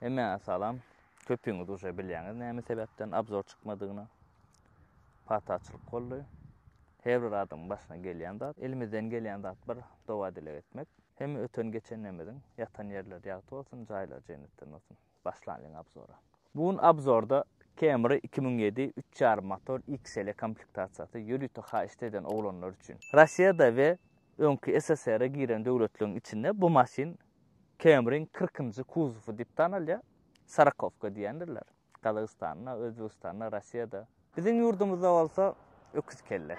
Hemmäňe salam. Köpüňiz uje bilýäňiz näme sebäpden abzor çykmadygyny. Pataçylyk boldy. Her bir adamyň başyna gelýän zat. Elimizden gelýän zat bir doga-dileg etmek. Hemme öten-geçenlerimiziň ýatan ýerleri ýagty bolsun, jaýlary jennetden bolsun. Başlanlyň abzora. Bu gün abzorda Camry iki müň ýedi üç ýarym motor XL komplektasiýasy ýörite haýyşt eden oglanlar üçin. Russiýada we öňki SSR-e giren döwletleriň içinde bu maşyn Camry-yň kyrkynjy kuzowy diýip tanalýar. Sorakowka diýendirler. Gazagystanda, Özbegistanda, Rossiýada. Biziň ýurdumyzda bolsa öküz kelle.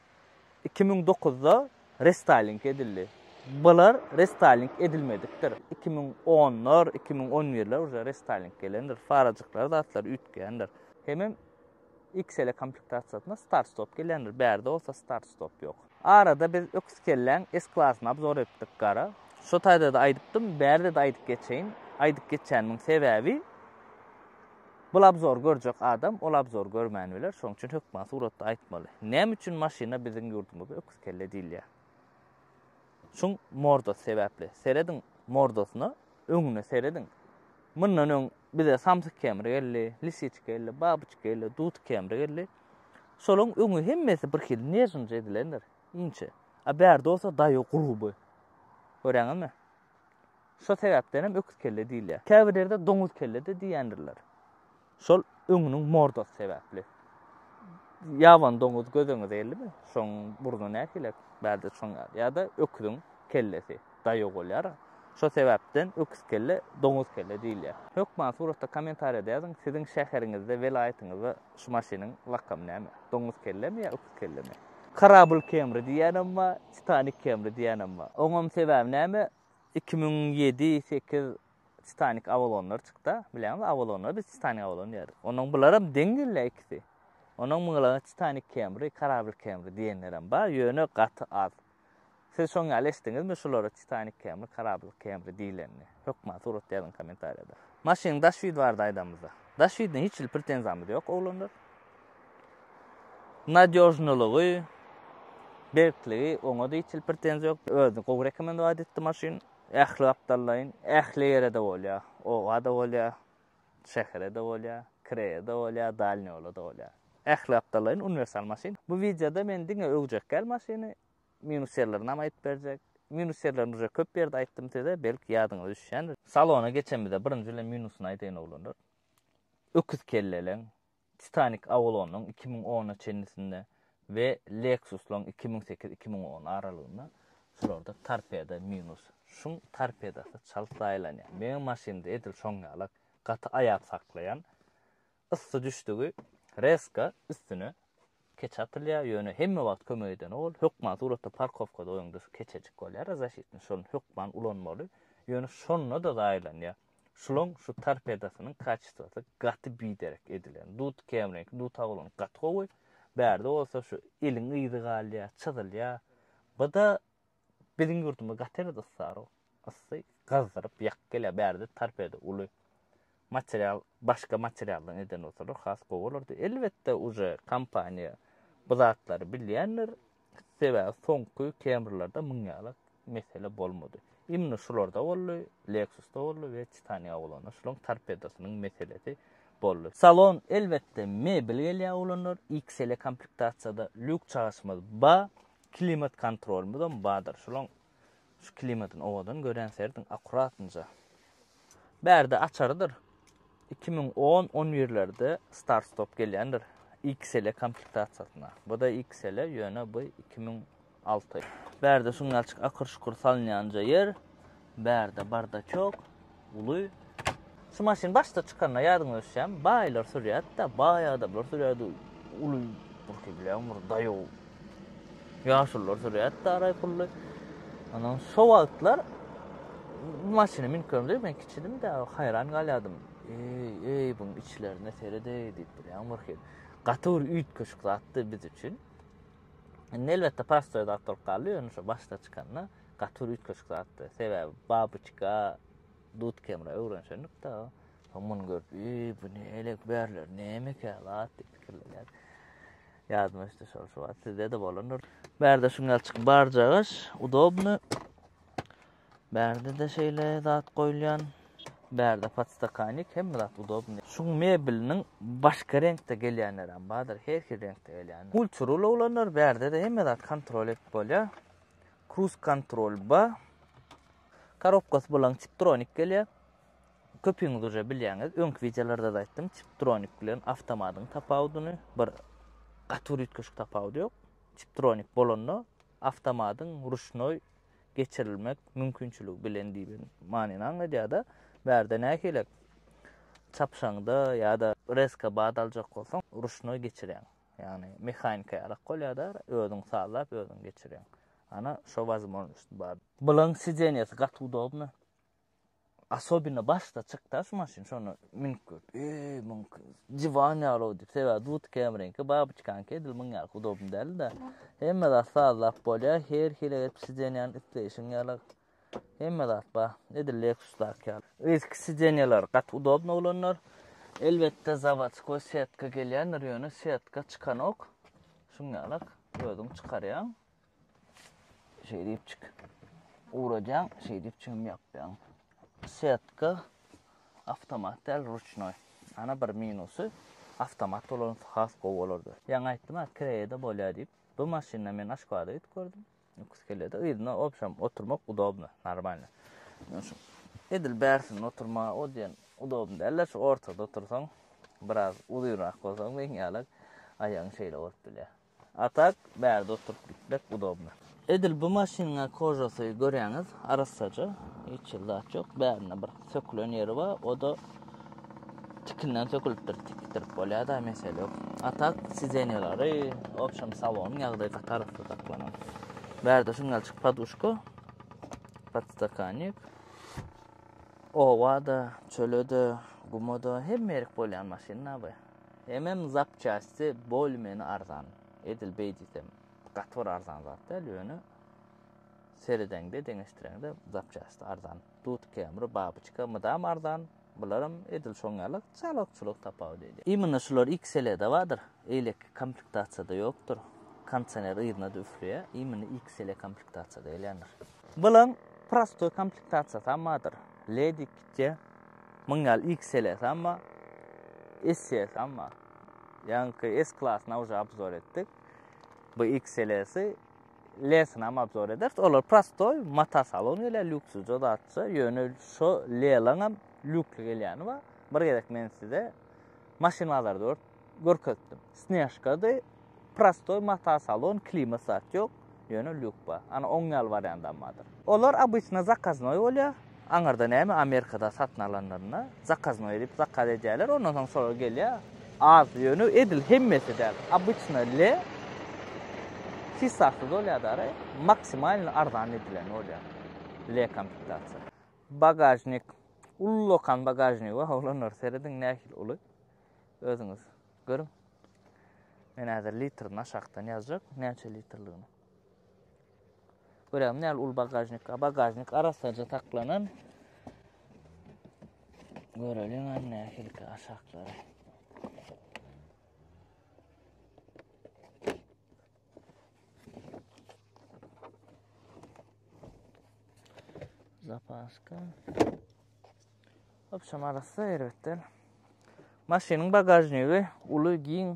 Iki müň dokuzda restaýling edildi. Bular restaýling edilmedikdir. Iki müň onlar, iki müň on birler uje restaýling gelendir. Farajyklar zatlar üýtgändir. Hemem XL komplektasiýasyna start-stop gelendir. Bärde bolsa start-stop ýok. Arada biz öküz kelläň S-klasyny obzor etdik gara. Şo taýda-da aýdypdym, bärde-de aýdyp geçeýin. Aýdyp geçýänimiň sebäbi, Bul abzor görjek adam ol abzor görmän biler şoň üçin hökman suratda aýtmaly. Näme üçin maşyna biziň ýurdumyzda öküz kelle diýilýär? Şuň mordasy sebäpli. Serediň mordasyna, öňüne serediň. Mundan öň bize samsyk kemri geldi, lisiçka geldi, babyçka geldi, dut kemri geldi. Şolaryň öňi hemmesi bir hil nežinje edilendir. Inçe. A bärde bolsa daýy guruby. Göräňizmi? Şo sebäpden hem öküz kelle diýilýär. Käbir ýerde doňuz kelle-de diýýändirler. Şol öňüniň mordasy sebäpli. Ýaban doňuz gözüňize geldi Şoň burny nähili? Bärde şoň ýaly. Ýa-da öküziň kellesi daýaw bolýar. Şo sebäpden öküz kelle, doňuz kelle diýilýär. Hökman suratda kommentariýada ýazyň, siziň şäheriňizde, welaýatyňyzda şu maşynyň lakamy näme? Doňuz kellemi ýa öküz kellemi? Karabyl kemri diýýänem bar, Titanik kemri diýýänem bar. Oňam sebäbi näme? Iki müň ýedi, sekiz Titanik Avalonlar çykda, bilýäňiz, Avalonlar biz Titanik Avalon diýäris. Onuň bularam deň gelýär ikisi. Onuň myňlagy Titanik Kemri, Karabl Kemri diýenlerem bar, ýöne gaty az. Siz şoň ýaly eşitdiňizmi şulara Titanik Kemri, Karabl Kemri diýilenini? Hökman suratda ýazyň kommentariýada. Maşynyň daş ýüzi barada aýdamyzda. Daş ýüzüne hiç hili pretenziýamyz ýok, oglanlar. Nadýožnylygy, berkligi oňa-da hiç hili pretenziýa ýok. Özi gowy rekomendować etdi maşyn. Ähli gapdallaýyn, ähli ýere-de bolýar. Oba-da bolýar, şähere-de bolýar, kiraýa-da bolýar, dalni ýola-da bolýar. Ähli gapdallaýyn uniwersal maşyn. Bu wideoda men diňe öwjek däl maşyny, minus ýerlerini hem aýdyp berjek. Minus ýerlerini uje köp ýerde aýtdym size, belki ýadyňyza düşýändir. Salona geçemizde birinji bilen minusyny aýdaýyn oglanlar. Öküz kelleleň Titanik Avalon-yň iki müň ona çenlisinde we Lexus-laryň iki müň sekiz-iki müň on aralygynda şularda torpeda minus. Şuň torpedasy çalt zaýalanýar. Meň maşynda edil şoň ýalak gaty aýap saklaýan. Yssy düşdügi rezka üstüne keç atylýar, ýöne hemme wagt kömek edeni ol. Hökman suratda parkowkada goýuňda şu keçejik bolýar, zaşitni şony hökman ulanmaly, ýöne şonda-da zaýalanýar. Şulaň şu torpedasynyň kaçistwasy gaty biderek edilen. Dut kämiriňki duta bolan gaty gowy. Bärde bolsa şu eliň yzy galýa, çyzylýa. Bda biziň ýurdumyz gaty erbet ysarok. Ysy gyzdyryp ýak gelýa. Bärde torpeda uly. Material başga materialdan eden bolsalar has gowy bolardy. Elbetde uje kompaniýa bu zatlary bilýändir. Sebäbi soňky Camry-larda muň ýaly mesele bolmady. Imni şularda boldy, Lexus-da boldy we Titan Yaulon-da şularyň torpedosynyň meselesi boldy. Salon, elbetde, mebel gelýär ulanlar, XL-e komplektasiýada lýuk çagyşymyz ba, klimat kontrolymyzam badyr. Şularyň Şu klimatyn owadan görýän serediň akuratynja. Bärde açarydyr iki müň on on birlerde start stop gelýändir XL komplektasiýasyna. Buda XL ýöne bu iki müň alty. Bärde şuňňalçyk akyr şukur salynýanja ýer. Bärde bardaçok. Uly Şu maşyn başda çykanda ýadyňa düşýärmi? Baýlar sürýärdi-de, baý adamlar sürýärdi. Uly bir bilen bir daýaw. Ýaşullar sürýärdi-de araý pully. Ondan şo wagtlar bu maşyny münkerimde men kiçidim-de, haýran galýardym. Eý, eý, bu içlerine seredeý diýip bilýän bir hil. Gaty bir üýtgeşik zatdy biz üçin. Indi elbetde pastoýda atdyryp galdy, ýöne şo başda çykanda. Gaty bir üýtgeşik zatdy. Sebäbi babyçka dudkemra öwrenşendik-de, soň muny görüp, Eý, bu ne elek bärler, nämekä zat diýip pikirlenýärdik. Ýadyma düşdi şol şu wagt, sizde-de bolandyr. Bärde şuňalçyk barjagaş, udobny. Bärde-de şeýle zat goýulýan. Bärde podstakanik, hemme zat udobny. Şuň mebeliniň başga reňkde gelýänlerem bardyr, her hil reňkde gelýän. Ulçurul oglanlar, bärde-de hemme zat kontrol edip bolýar. Cruise Control ba. Korobkasy bolan Tiptronic gelýär. Köpüňiz uje bilýäňiz. Öňki wideolarda-da aýtdym. Tiptronic bilen awtomatyň tapawudyny bir gaty bir üýtgeşik tapawudy ýok. Tiptronic bolanda awtomatyň ruşnoý geçirilmek mümkinçiligi bilen diýen manyny aňladýar-da. Bärde nähilek çapsaňda ýa-da rezka bat aljak bolsaň, ruşnoý geçirýäň. Ýagny mehanika ýalak bolýada özüň sazlap özüň geçirýäň. Ana şo wazmožnost bar. Bulaň sidenýasy gaty udobny. Asobina başda çykda şu maşyn şonu münüp gör. Eý muň diwan ýaly diýip sebä dut kemrinki babuçkanki edil muň ýaly udobny däldi. Hemme zat sazlap bolýa her hile edip sidenýany isleýşiň ýalak. Hemme zat bar. Edil Lexus-daky ýaly. Yzky sideniýalar gaty udobny bolanlar. Elbetde zawodskoý setka gelýändir, ýöne setka çykanok. Şuň ýalak özüň çykarýaň. Şeýdipjik uradýaň, şeýdip çöm ýapýaň. Setka awtomat däl, ruçnoý. Ana bir minusy, awtomat bolansy has gowy bolardy. Ýaňy aýtdym-a, kireýede bolýar diýip. Bu maşynda men aşkada üýtgerdim. Ukus gelýärdi. Yzyna obşam oturmak udobno, normalno. Men şu edil bärsinde oturma, o diýen udobno däl-de, şu ortada otursaň, biraz uzynrak bolsaň, meň ýaly aýagyň şeýle bolup bilýär. A tak, bärde oturyp gitmek udobno. Edil bu maşynyň-a kožasy görýäňiz, arassaja, hiç hili zat ýok, bärinde bir Sökülen ýeri bar, o-da tikinden sökülipdir, tikdirip bolýar-da, mesele ýok. A tak, sidenýalary, obşem salonyň ýagdaýy gaty arassa saklanan. Bärde şuňňalçyk poduşka, podstakannik. Oba-da, çöle-de, guma-da hemme ýerik bolýan maşyn-da bu. Hemem zapçasty bolmeni arzan. Edil beý diýsem, gaty bir arzan zat däl, ýöne seredeňde, deňeşdireňde zapçasty arzan. Dut kemri, babyçka, mydam arzan, bularam edil şoň ýaly çalykçylyk tapawudy edýär. Imina şular XL-de bardyr, eýleki komplektasiýada ýokdur. Kondisioner yzyna-da üfleýär, imina XL komplektasiýada gelýändir. Bulaň prostoý komplektasiýasam bardyr, Lady, Kitty, muň ýaly XL-sem bar, SE-sem bar. Ýaňky S-klasyny awja obzor etdik. Bu XL-si, Lesinam obzor ederis. Olar prostoy, mata salon gelýär, lüksüje zatça. Ýöne şo Lelaňam lükli gelýäni bar. Bir gezek men size maşyn bazary dört görkezdim. Snežkady, prostoy mata salon, klimat zat ýok. Ýöne lük bar. Ana oň ýaly wariant ammadyr. Olar obyçna zakaznoý bolýar. Aňyrda näme Amerikada satyn alanlarynda zakaznoý edip zakaz edýärler, ondan soň soragy gelýär. Az ýöne edil hemmesi däl. Obyçna le fisasy bolýar dara, maksimalny arzan edilen bolýar. Le komplektasiýa. Bagažnik ullakan bagažnik we oglanlar serediň nähili uly. Özüňiz görüň. Men häzir litrini aşakdan ýazjak, näçe litrligini. Görýäňmi näl ul bagažnik, a bagažnik arassaja saklanan. Göreliň an nähilki aşaklary. Zapaska. Hop şam arassa erbetden. Maşynyň bagažnigi uly giň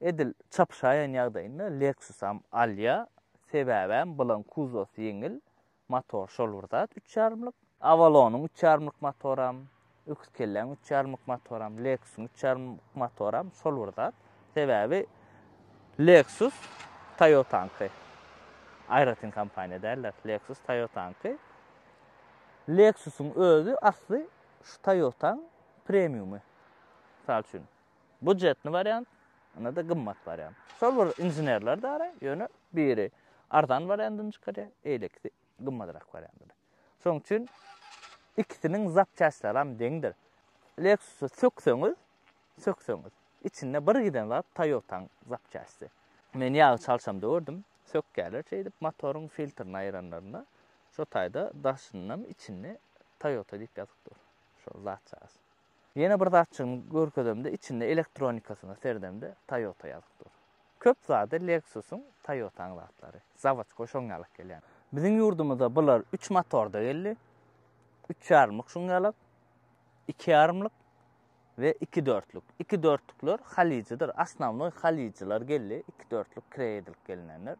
Edil çapyşaýan ýagdaýynda Lexus-am alýar, sebäbem bulan kuzosy ýeňil, motor şol bir zat üç ýarymlyk. Avalon-yň üç ýarymlyk motoram, öküzkelläň üç ýarymlyk motoram, Lexus-yň üç ýarymlyk motoram şol bir zat. Sebäbi Lexus Toyota-nyňky. Aýratyn kompaniýa däldir. Lexus Toyota-nyňky. Lexus-yň özi asly şu Toyota-nyň premiumy. Mysal üçin, Budjetny wariant, ynada gymmat wariant. Şol bir inženerler dara, ýöne biri arzan wariandyny çykarýar, eýlekisi gymmadrak wariandyny. Şoň üçin ikisiniň zapçastlaram deňdir. Lexus-y sökseňiz, sökseňiz, içinde bir giden zat Toyota-nyň zapçasty. Men ýagy çalşamda gördüm, sökýärler şeýdip motoryň filtrini aýranlarynda, şo taýda daşynynam içinde Toyota diýip ýazyp dur. Şol zatçasy. Ýene bir zatçygyny görkezemde içinde elektronikasyna serdemde Toyota ýazyp dur. Köp zady Lexus-yň, Toyota-nyň zatlary. Zawoçka şoň ýalyk gelýän. Biziň ýurdumyza bular üç motorda geldi. Üç ýarymlyk şoň ýalyk, iki ýarymlyk we iki dörtlük. Iki dörtlükler halyjydyr. Asnawnoý halyjylar geldi. Iki dörtlük kireýe edilip gelinendir.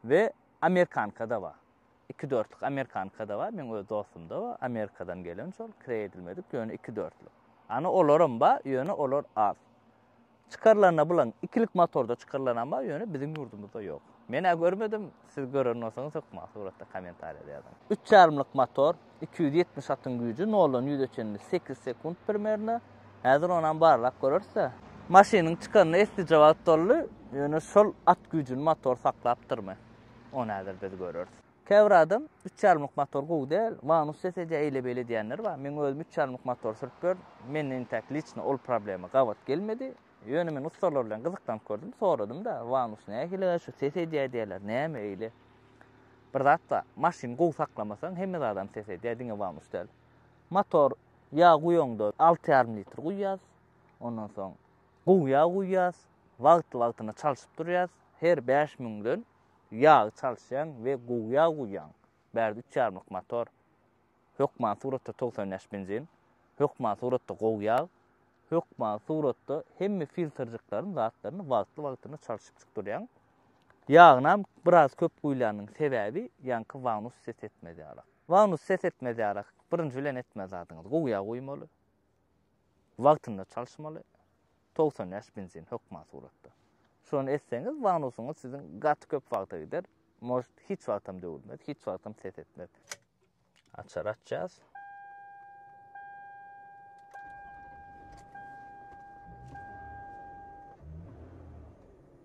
We amerikanka-da bar. iki dörtlük amerikankada bar meň öz dostumda bar amerikadan gelen şol kireý edilmedik ýöne iki dörtlük ana olaram bar ýöne olar az çykarylanda bulan ikilik motorda çykarylanam bar ýöne biziň ýurdumyzda ýok men ä görmedim siz gören bolsaňyz hökman suratda kommentariýada ýazyň üç ýarymlyk motor iki ýüz ýetmiş atyň güýji noldan ýüze çenli sekiz sekunt primerno häzir onam barlap görersä maşynyň çykanyna eslice wagt boldy ýöne şol at güýjüni motor saklapdyrmy Ony häzir biz göreris. Käbir adam üç ýarmyk motor gowy däl, Vanus deseje eýle-beýle diýenler bar. Meň özüm üç ýarmyk motor sürüp gördüm. Mende intäk liçno ol problema gabat gelmedi. Ýöne men ussalar bilen gyzyklanyp gördüm, soradym-da, Vanus nähili-ä şu ses edýär diýýärler, näme eýle? Bir zat bar, maşyny gowy saklamasaň hemme zadam ses edýär, diňe Vanus däl. Motor ýag guýaňda alty ýarym litr guýýas, ondan soň gowy ýag guýýas. Wagtly-wagtyna çalşyp durýas, her bäş müňden ýagy çalşýaň we gowy ýag guýýaň, bärde üç ýarymlyk motor, hökman suratda togsan bäş benzin, hökman suratda gowy ýag, hökman suratda hemme filtrjikleriň zatlaryny wagtly-wagtyna çalşyp çykdyrýaň, ýagynam biraz köp guýlanyň sebäbi ýaňky wanus ses etmez ýarak, wanus ses etmez ýarak birinji bilen etmez zadyňyz gowy ýag guýmaly. Wagtynda çalyşmaly, togsan bäş benzin hökman suratda. Şony etseňiz, wanusyňyz siziň gaty köp wagta gider, most hiç wagtam döwülmez, hiç wagtam ses etmez. Açar açýas.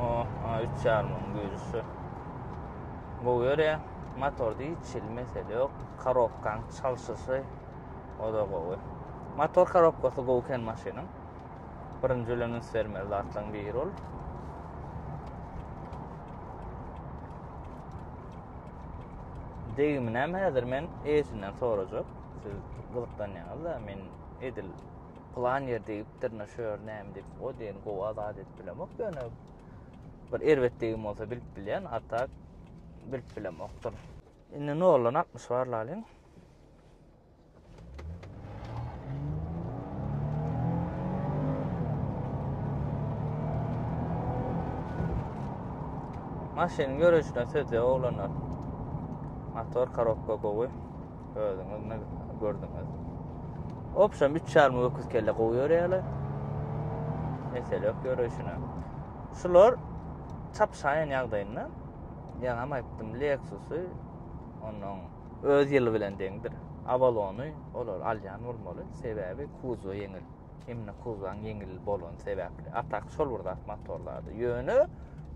Oh, a 3 yarmyň güýçli. Bu göre motorda hiç hil mesele ýok. Korobkaň çalşyşy o da gowy. Motor korobkasy gowy eken maşynyň. Birinji bilen üns bermeli zatlaryň biri ol. Degimini hem häzir men eýesinden sorajak. Siz gyzyklanýaňyz-da, men edil plan ýer degipdir ne şu ýer näme diýip o diýen gowy azat edip bilemok ýöne bir erbetligim bolsa bilip bilýän a tak bilip bilemokdyr indi noldan altmyş bar lalyň maşynyň ýörüşine söz ýok oglanlar motor korobka gowy Özüňiz ne gördüňiz? Opşam 3 çarmy öküz kelle gowy görýärler. Mesele yok görüşüne. Şular çapşaýan ýagdaýynda ýaňy hem aýtdym Lexus-y onuň öz ýyly bilen deňdir. Avalony olar alýan bolmaly. Sebäbi kuzo ýeňil. Hemde kuzan ýeňil bolan sebäpli. Atak şol bir zat motorlarda. Ýöne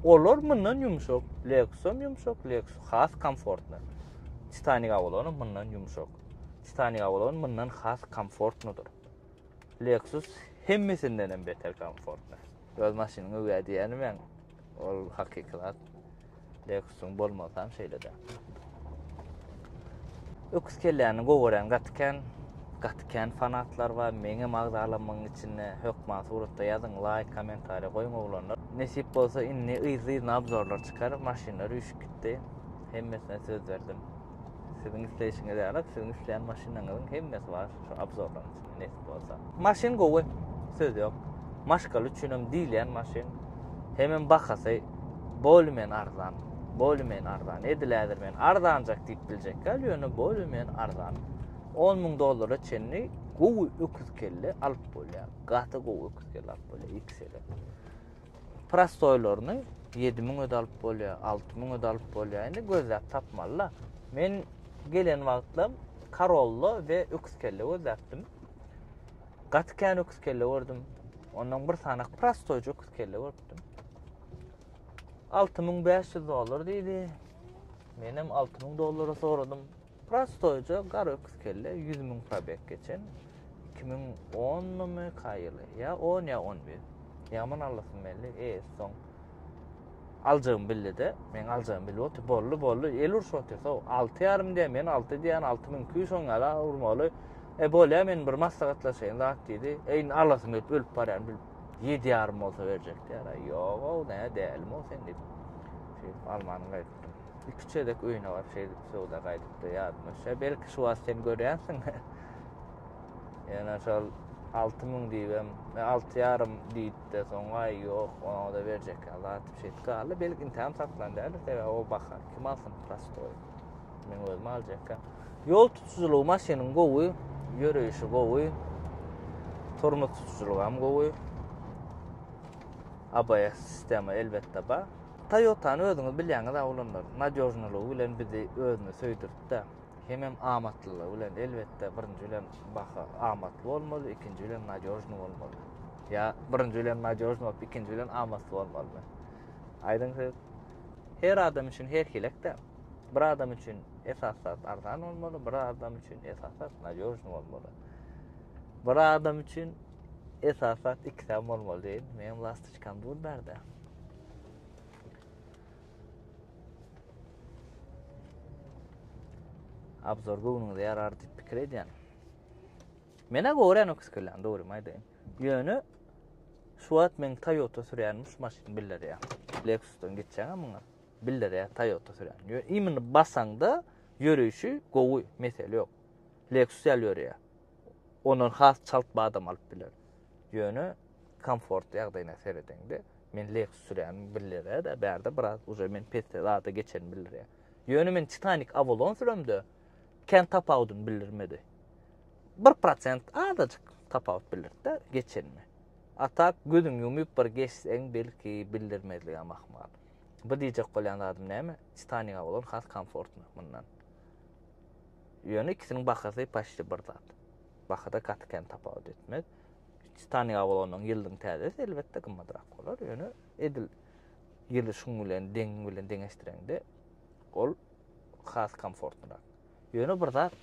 olar mundan ýumşak. Lexus hem ýumşak, Lexus has komfortly. Titanik awalony mundan ýumşak. Titanik awalony mundan has komfortnydyr. Lexus hemmesinden hem beter komfortny. Öz maşynyňy we diýänimäň, ol hakyky zat. Lexusyň bolmasy hem şeýle-de. Öküz kelläni gowy gören gaty kän. Gaty kän fanatlar bar. Meňem agzalanmagyň içinde hökman suratda ýazyň, laýk, kommentariýa goýuň oglanlar. Nesip bolsa indi yzly-yzyna obzorlar çykar, maşynlar üýşüp gitdi. hemmesine söz berdim. Siziň isleýişiňiz ýaly, siziň isleýän maşynyňyzyň hemmesi bar şu obzorlaryň içinde nesip bolsa. Maşyn gowy, söz ýok. Maşgal üçin hem diýilýän maşyn. Hemem bahasy bolmen arzan. Bolmen arzan. Edil ädir men arzanjak diýip biljek. Gal ýöne bolmen arzan. 10 müň dollara çenli gowy öküz kelle alyp bolýar. Gaty gowy öküz kelle alyp bolýar. X-le. Prostoýlaryny ýedi müňe de alyp bolýar, alty müňe de alyp bolýar. Indi gözläp tapmaly-da. Men gelen wagtlam karolla we öküz kelle gözläpdim. Gaty kän öküz kelle gördüm. Ondan bir sanak prostoýja öküz kelle görüpdim. 6500 dollar diýdi. Menem 6000 dollara soradym. Prostoýja gar öküz kelle ýüz müň probeg geçen iki müň onnymy ka ýyly ýa on ýa on bir ýaman allasyn belli e soň aljagymy bildide meň aljagymy bilip otyr bolly bolly el urşup otyr so alty ýarym diýen men alty diýen alty müň iki ýüz soň ýala urmaly e bolýa men bir maslahatlaşaýyn zat diýdi e indi allasyn gelip ölüp barýan bilip ýedi ýarym bolsa berjek diýär ýoga näme dälimi o sen diýip şeýdip almanyň gaýdy iki çözek öýüne baryp şeýdip söwda gaýdypdy ýadyma düşýär. Belki şu wagt sen görýänsiň. Ýöne şol 6000 diýibem, 6,5 diýipdi. Soňa ýok, ona da berjek zat şeýdip galdy. Belki intäm satlan däl, sebäbi o baha kim alsyn prostoý. Men özüm aljakka. Ýol tutujylygy maşynyň gowy, ýöreýşi gowy. Turmuş tutujylygy hem gowy. ABS sistema elbetde bar. Toyotany özüňiz bilýäňiz a olanlar nadýožnylygy bilen bizi özüne söýdürtdä. Hemem amatlylygy bilen elbetde birinji bilen baha amatly bolmaly ikinji bilen nadýožny bolmaly. Ýa birinji bilen nadýožny bolup ikinji bilen amatly bolmalymy? Aýdyň söz. Her adam üçin her hilekde. Bir adam üçin esas zat arzan bolmaly, bir adam üçin esas zat nadýožny bolmaly. Bir adam üçin esas zat ikisem bolmaly diýin. Meň lastoçkam dur berde. Abzor göwnüňize ýarar diýip pikir edýän. Menä gören o kiskelän dogry maýdaýyn. Ýöne şu wagt men Toyota sürýänim şu maşyn biller ýa. Lexusdan geçýän muňa. Biller ýa Toyota sürýän. Ýöne imini basaňda ýörüşi gowy, mesele ýok. Lexus ýaly ýörýär. ondan has çalt badam alyp biler. Ýöne komfort ýagdaýyna seredeňde, men Lexus sürýän bildirýär-de, bärde biraz uje men pesse zada geçen bildirýär. Ýöne men Titanic Avalon süremde kän tapawudyny bildirmedi. 1% azajyk tapawut bildirdi-de geçenini. A tak gözüň ýumyp bir geçseň belki bildirmezligem ahmal. Bu diýjek bolýan zadym näme? Titanic Avalon has komfortny mundan. Ýöne ikisiniň bahasy paçti bir zat. Bahada gaty kän tapawut etmez. Staniga bolanyň ýyldyň täzesi elbetde gymmadrak bolar. Ýöne edil ýyly şuň bilen deň bilen deňeşdireňde ol has komfortnyrak. Ýöne bir zat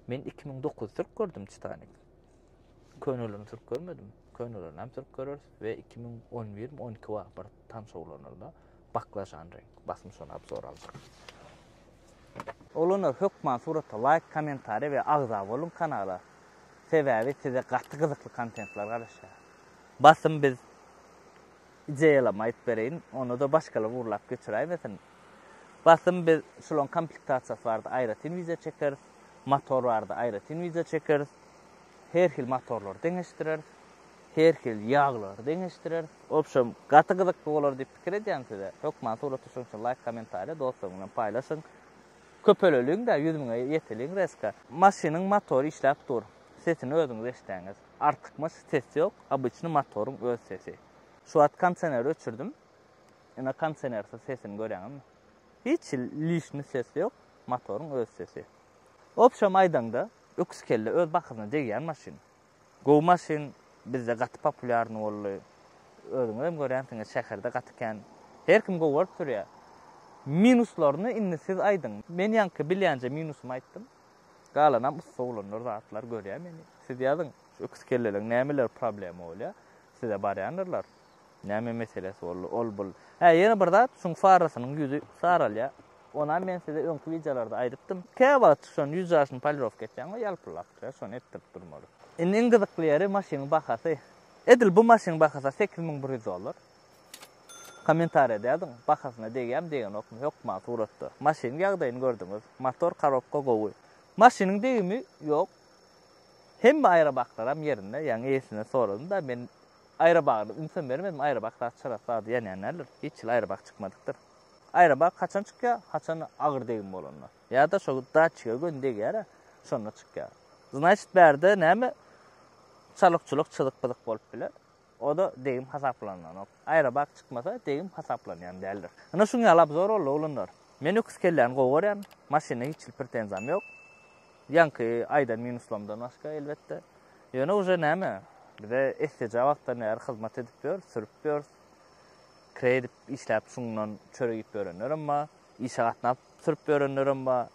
men 2009 türk gördüm Titanic. Könelerini türk görmedim. Könelerini hem türk göreris we 2011 12 wagt bir tan şowlanylda baklajan renk basym şony abzor aldyk. Oglanlar hökman surata laýk kommentariýa we agza boluň kanala sebäbi size gaty gyzykly kontentler garaşýar. Basym biz ideýalama aýdyp bereýin onyda başgalar urlap geçiräýmesin. Basym biz şulaň komplektasiýasy barada aýratyn wideo çekeris, motor barada aýratyn wideo çekeris, her hil motorlary deňeşdireris. Her hili ýaglary deňeşdireris. Obşem gaty gyzykly bolar diýip pikir edýän size hökman suraty şoň üçin laýk komentariýa dostlaryň bilen paýlaşyň köpeleliň dä ýüz müňe ýeteliň reska. Maşynyň motory işläp dur. Sesini özüňiz eşdeňiz. Artykmaç ses ýok, obyçny motoryň öz sesi. Şu wagt konseneri öçürdim. Ine konsenersiz sesini görýäňizmi? Hiç lişni ses ýok, motoryň öz sesi. Obşem aýdaňda öküz kelle öz bakyzyna degýän maşyn. Gowy maşyn bizde gaty populýarny boldy. Özüňizem görýänsiňiz şäherde gaty kän. Her kim gowy görüp sürýä. Minuslaryny indi siz aýdyň. Men ýaňky bilýänje minusymy aýtdym. Galanam ussa oglanlar zatlar görýä meni. Siz ýazyň şu öküz kelleleň nämeleri problema bolýa. Size barýandyrlar. Näme meselesi boldy? Ol bul. Hä, ýene bir zat, şuň farasynyň ýüzi saralýar. Onam men size öňki wideolarda aýdypdym. Käwagt şon ýüz jaşyny polirowka etýäň we ýalpyldap durýar, şony etdirip durmaly. Indi iň gyzykly ýeri maşynyň bahasy. Edil bu maşynyň bahasy sekiz müň bir ýüz dollar. Kommentariýada ýazyň, bahasyna degýärmi, degenokmy? Hökman suratda. Maşynyň ýagdaýyny gördüňiz. Motor, korobka gowy. Maşynyň degimi ýok. Hemme aýrabaklaram ýerinde. Ýaňy eýesinden soradym-da, men Aýrabagda ünsem bermedim, aýrabak zat çyrasy zady ýanýan däldir, hiç ýyl aýrabak çykmadykdyr. Aýrabak haçan çykýar, haçan-da agyr degim bolanda. Ýa-da şo datçige göni degýär-ä, şonda çykýar. Znaýşt bärde näme çalykçulyk çyzyk-pyzyk bolup biler, o-da degim hasaplananok. Aýrabak çykmasa, degim hasaplanýan däldir. Ynha şuň ýaly obzor boldy, oglanlar. Men öküz kelläni gowy görýän, maşyna hiç ýyl pretenziýam ýok. Ýaňky aýdan minuslamdan başga, elbetde. Ýöne uje näme, bize esseje wagtdan bäri hyzmat edip ýör, sürüp ýör. Kire edip işläp şundan çörek iýip ýörenlerem bar, işe gatnap sürüp ýörenlerem bar.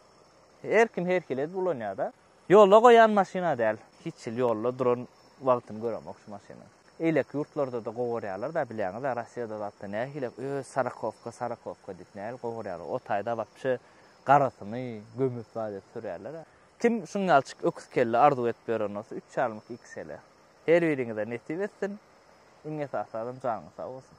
Her kim her hili edip ulanýar-da. Ýolda goýan maşyn-a däl. Hiç ýyl ýolda duran wagtyny göremok şu maşynyň. Eýleki ýurtlarda-da gowurýarlar-da, bilýäňiz-ä, Rossiýada zatda nähili öz sarakowka, sarakowka diýip nähili gowurýarlar. O taýda wapşe garasyny gömüp zat edip sürýärler-ä. Kim şunýalçyk öküz kelle arzuw edip ýören bolsa üç çalmyk iki sele. Her biriňize nesip etsin. Iň esasadan janyňyz sag bolsun.